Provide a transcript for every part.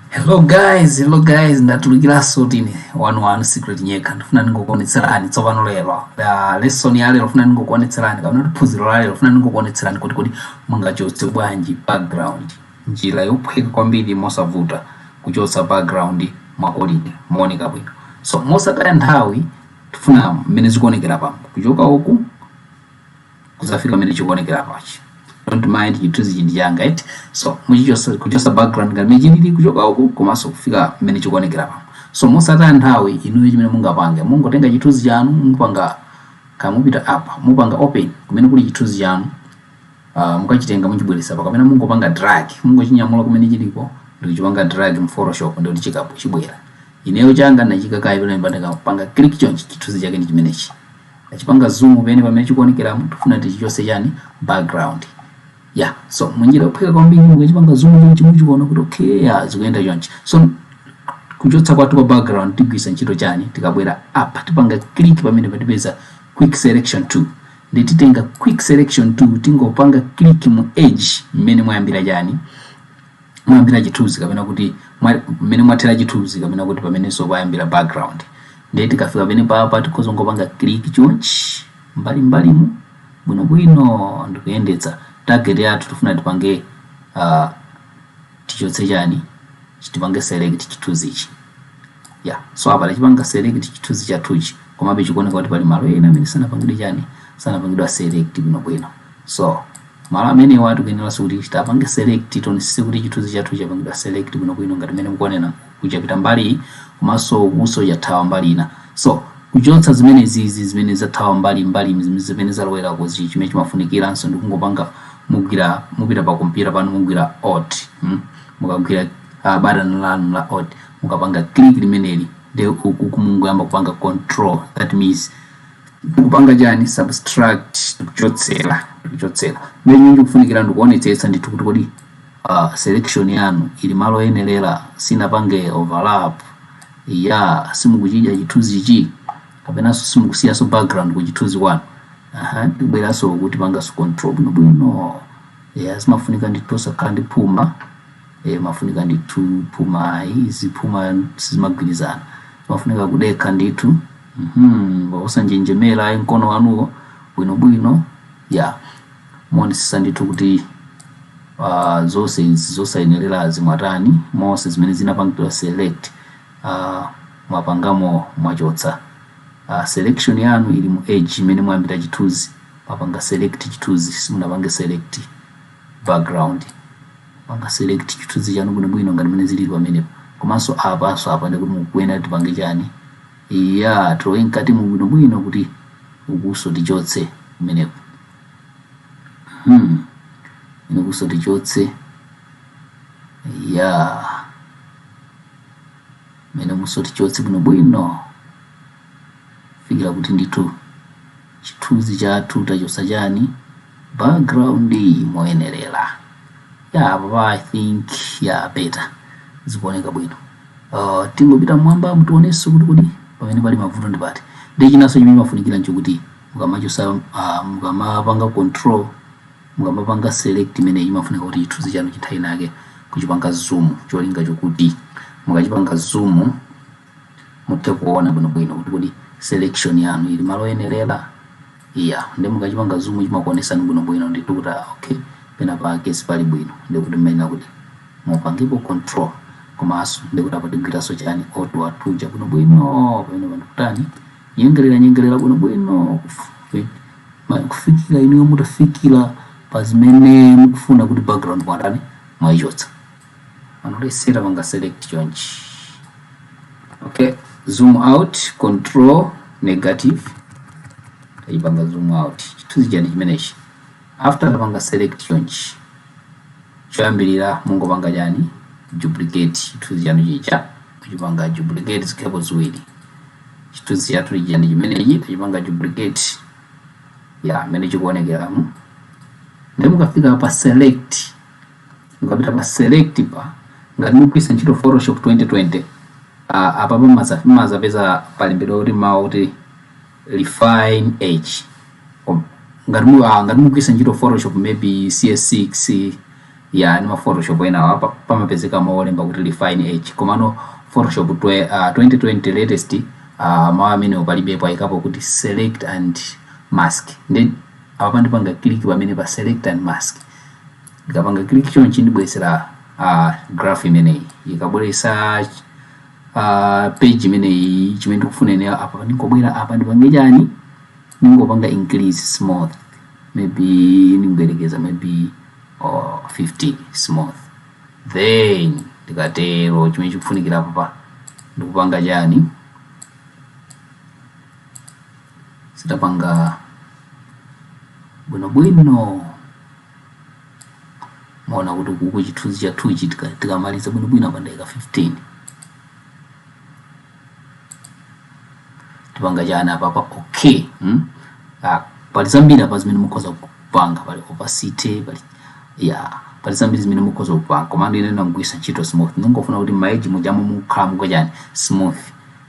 hello guys hello guys ndatulukiranso tine wanu wanu secret nyeka ndifuna ndingokuonetserani tsopano lero Ah, lesson ya lero funa ndingokuonetserani kapena kuti phunziro la lero funa ndingokuonetserani kodi kodi mungachotse bwanji background njira yophweka kwambiri mosavuta kuchotsa background mwa quality mooneka bwino so mosataya nthawi tifuna mmene zikuonekera apa kuchoka uku kuzafika pamene chikuonekera apachi don't mind chithunzichi ndi changa eti so muchichosa kuchosa background ngati mmene chilili kuchoka uku komanso kufika mmene chikuonekera apa so mosataya nthawi inuyo chimene mungapange mungotenga chithunzi chanu mupanga ka mupita apa mupanga open kumene kuli chithunzi chanu uh, mukachitenga muchibweresa apa kapena mungopanga drag mungochinyamula kumene chilipo ndikuchipanga drag mu photoshop nde chikapo chibwera Ineyo changa ndinachiika kaye pamenepa ndikapanga click chonchi chithunzi chake ndi chimenechi. Ndachipanga zoom mmene mmene chikuonekeramu ndikufuna ndichichotse chani background. Yeah so munjira yophweka kwambiri mukachipanga zoom chonchi muchiona kuti okay yeah zikuyenda chonchi. So kuchotsa kwathu kwa background tigwiritsa ntchito chani tikabwera apa tipanga click pamene apa tipeza quick selection tool nde titenga quick selection tool tingopanga click mu edge mmene mwayambira chani mwayambira chithunzi kapena kuti mmene mwathera chithunzi kapena kuti pamenenso payambira background ndiye tikafika pamene papa tikhoza kungopanga click chonchi mbali mbalimu bwinobwino ndikuyendetsa target yathu tifuna tipange uh, tichotse chani tipange select chithunzichi ya yeah. so apa tachipanga select chithunzi chathuchi komabe chikuoneka kuti pali malo ena amene sanapangidwe chani sanapangidwe select bwinobwino So, malo amenewa tikuyeneranso kuti titapange select tionesese kuti chithunzi chathu chapangidwa select bwinobwino ngati mmene mukuonera uku chapita mbali iyi komanso ukunso chathawa mbali ina. So, kuchotsa zimenezi izi zimene zathawa mbali mbali izi zimene zalowera ku chi- chimene chimafunikiranso ndi kungopanga mugwira mupita pa kompyuta panu mugwira alt mm? mukagwira uh, button lanu la alt mukapanga click limeneli nde uku mungoyamba kupanga control that means kupanga chani subtract kuchotsera kuchotsera nde mmene kufunikira ndikuonetsetsa ndithu kuti kodi uh, selection yanu ili malo oyenerera sinapange overlap ya simukuchidya chithunzichi kapenanso simukusiyanso background ku chithunzi kwanu aha tibweranso uku tipanganso control bwino bwino ya zimafunika ndithu osakhala ndi phuma eh, zimafunika ndithu phuma izi phuma sizimagwirizana zimafunika kudekha ndithu Hmm, osanjenjemera ayi mkono wanuwo bwinobwino ya muonesesa ndithu kuti uh, zonse izi zosayenerazi mwatani monse zimene zinapangidwa select uh, mwapangamo mwachotsa uh, selection yanu ili mu edge imene mwayambira chithunzi mwapanga select chithunzi simunapange select background panga select chithunzi chanu bwinobwino ngati mene zilili pamenepo komanso apanso apa ndikuti mukuyenera tipange chani Eya, tilowe mkatimo bwinobwino kuti ukuso tichotse kumeneko. Hmm. Ukuso tichotse. Eya. Kumene umuso tichotse bwinobwino. Fikira kuti ndithu. chithunzi chathu tachosa chani background moyenerera ya apa i think ya better zikuoneka bwino uh, tingopita mmwamba mu tionenso kuti kodi pamene pali mavuto ndi pati ndi chinanso chimene chimafunikira nchokuti mukamachosa uh, mukamapanga control mukamapanga select imene imafunika kuti chithunzi chanuchi nthawi inayake kuchipanga zoom cholinga chokuti mukachipanga zoom muthe kuona bwinobwino kuti kodi selection yanu ili malo oyenerera eya nde mukachipanga zoom chimakuonesani bwinobwino ndithu kuti ah, okay pena pake sipali bwino ndi kuti mmayenera kuti mupangepo control komanso ndi kuti apa tigwiranso chani tool yathu ija bwinobwino pamenepa ndikutani nyengelera nyengelera bwinobwino kufupi ma- kufikira inuyo mutafikira pa zimene mukufuna kuti background mwatani mwaichotsa unless tapanga select chonchi okay zoom out control negative taipanga zoom out chithunzi chani chimenechi after tapanga select chonchi choyambirira mungopanga chani duplicate chithunzi chanu chija kuchipanga duplicate zikhalepo ziwiri chithunzi chathu chija ndi chimenechi tachipanga duplicate ya mmene chikuonekeramu nde mukafika pa select mukapita pa selectpa ngati mukugwiritsa ntchito photoshop 2020 a- apa pamaza- mumazapeza palembedwa kuti mawu kuti refine edge Kom- ngati mu- ah, ngati mukugwiritsa ntchito photoshop maybe cs6 ya ndi ma photoshop enawo apa pamapezeka mawu olemba kuti refine edge komano photoshop twe- ah, 2020 latest ah, mawu amenewo palibepo ayikapo kuti select and mask nde apapa ndipanga click pamenepa select and mask ndikapanga click chonchi ndibweretsera uh, graph imeneyi ikabweretsa uh, page imeneyi chimene ndikufuna ine apa ndingobwera apa ndipange chani ndingopanga increase smooth maybe ndingoyerekeza maybe 50 smooth then ndikatero chimene chikufunikira apapa ndikupanga chani sitapanga bwinobwino mwaona kuti kuku chithunzi chathu ichi tika- tikamaliza bwinobwino apa ndaika 15 tipanga chani apapa okay hmm? ah, pali zambiri apa zimene mukhoza kupanga pali opacity pali ya pali zambiri zimene mukhoza kupanga komano ine ndagwiritsa ntchito smooth ndingofuna kuti mma edge mujamu mukhala muka chani smooth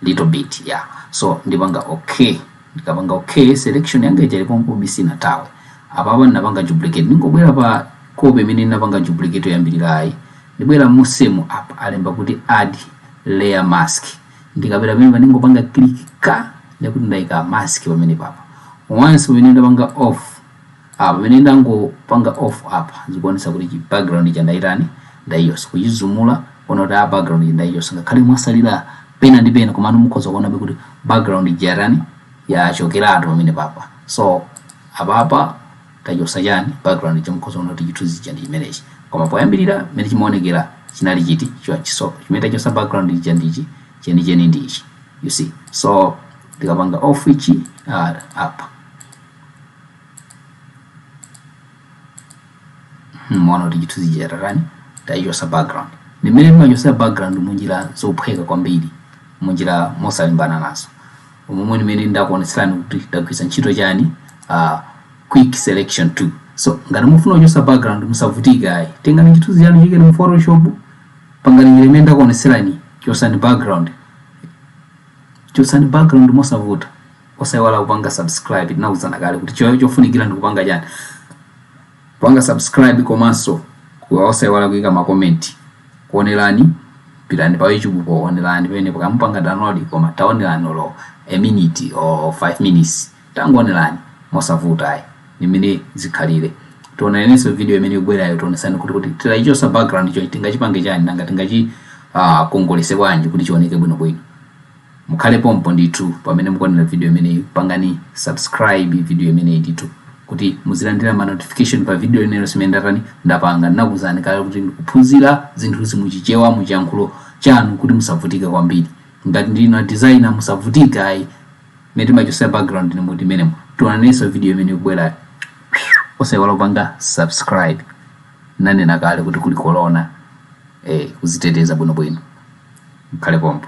little bit yeah so ndipanga okay ndikapanga okay selection yanga ija ilipompobe sinathawe apapa ndinapanga duplicate ndingobwera pa copy imene ndinapanga duplicate yoyambirirayi ndibwera musemu apa alemba kuti add layer mask ndikabwera pamene ndingopanga click ka ndikuti ndaika mask pamene papa once pamene ndapanga off a pamene ndangopanga off apa zikuonetsa kuti chi background ija ndaitani ndaichotsa kuizumula kuona kuti background ija ndaichotsa ngakhale mwatsalira pena ndi pena komano mukhoza kuonabe kuti background ija yatani yachokeratu pamene papa so apapa tachotsa chani background ija mukhoza kuona kuti chithunzi chija ndi chimenechi koma poyambirira mmene chimaonekera chinali chiti chonchi so chimene tachotsa background ija ndichi chenicheni ndi ichi you see so ndikapanga off ichi uh, apa mwaona kuti chithunzi chija tatani tachosa background ndi mmene timachosera background munjira zophweka kwambiri munjira mosalimbana nazo umomo ndi mmene ndakuonetserani kuti ndagwiritsa ntchito chani uh, quick selection tool so ngati mufuna kuchosa background musavutike ayi tengani chithunzi chanu chiikeni mu photoshop pangani njira imene ndakuonetserani chosani background chosani background mosavuta Osaiwala kupanga subscribe tinauzana kale kuti chofunikira ndikupanga chani kupanga subscribe komanso osaiwala kuika ma comment kuonerani pitani pa YouTube kaonereni penapake mupanga download koma taonerani olo a minute or 5 minutes tangonerani mosavuta ayi ndi mmene zikhalire tionanenso video imene ikubwerayo tionesani kuti titaichosa background ija tingachipange chani nanga tingachi uh, kongolese bwanji kuti chioneke bwinobwino Mukhale pompo ndithu pamene mukuonera video imeneyi pangani subscribe video imeneyi ndithu kuti muzilandira ma notification pa video ina iliyonse imene ndatani ndapanga. Ndinakuuzani kale kuti ndi kuphunzira zinthuzi mu Chichewa mu chiyankhulo chanu kuti musavutike kwambiri. Ngati ndinu a designer musavutike ayi mmene timachosera background ndi mmenemo. Tionanenso video imene ikubwerayo. Osaiwala kupanga subscribe. Ndinanena kale kuti kuli corona eh kuziteteza bwinobwino. Mukhale pompo.